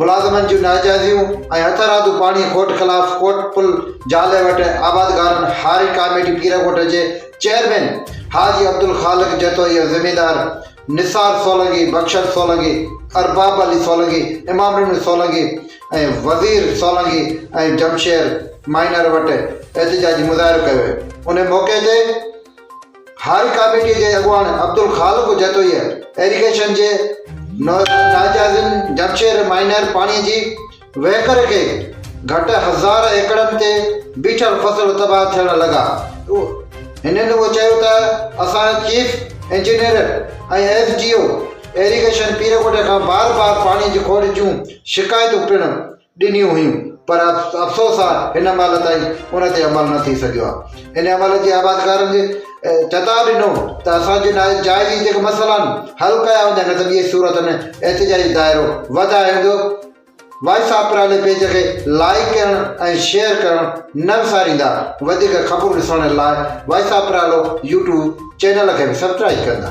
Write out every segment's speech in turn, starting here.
ملازمن جون ناجائزيون ۽ هٿ رادو پاڻي کوٽ خلاف ڪوٽ پل جالي وٽ آبادگارن هاري ڪاميٽي پيرڳوٺ جي چيئرمين حاجي عبدالخالق جتوئي ۽ زميندار نثار سولنگي، بخشل سولنگي، ارباب علي سولنگي، امام ڏنو سولنگي ۽ وزير سولنگي ۽ جمشير مائنر وٽ احتجاجي مظاهرو ڪيو ويو. انهي موقعي تي. هاء ڪاميٽي جي اڳواڻ عبدالخالق جتوئيء ايريگيشن جي ناجائزن جمشير مائنر پاڻي جي وهڪري کي گهٽ هزار ايڪڙن تي بيٺل فصل تباهه ٿيڻ لڳا. هنن اهو چيو ته اسان chief engineer ۽ S D O irrigation Pirkot کان بار بار پاڻي جي کوٽ جون شڪايتون پڻ ڏنيون هيون پر افسوس آ هن مهل تائين ان تي عمل نه ٿي سگهيو آ ان عمل جي آبادگارن جي چتاء ڏنو ته اسان جي ناهي جاء جي جيڪي مسئلا آهن حل ڪيا وڃن نه ته ٻيء صورت ۾ احتجاجي دائرو وڌائي ويندو وائس آف پرالي پيج کي لائيڪ ڪرڻ ۽ شيئر ڪرڻ نه وساريندا وڌيڪ خبرون ڏسڻ لاء voice of Parali YouTube channel کي به سبسڪرائيب ڪندا.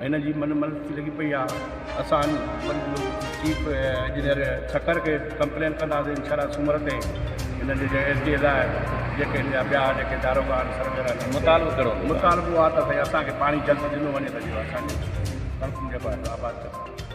هن جي من ملڪي لڳي پئي آ اسان چيف انجنيئر سکر کي ڪمپلين ڪنداسين انشاء الله سومر تي هن جي G S D L I جيڪي هن جا ٻيا جيڪي داروغا آهن سرويئر آهن مطالبو ڪهڙو هوندو مطالبو آ ته اسان کي پاڻي جلد ڏنو وڃي ته جيئن اسان جي سڙڪون جيڪو آهي آباد ٿي سگهن.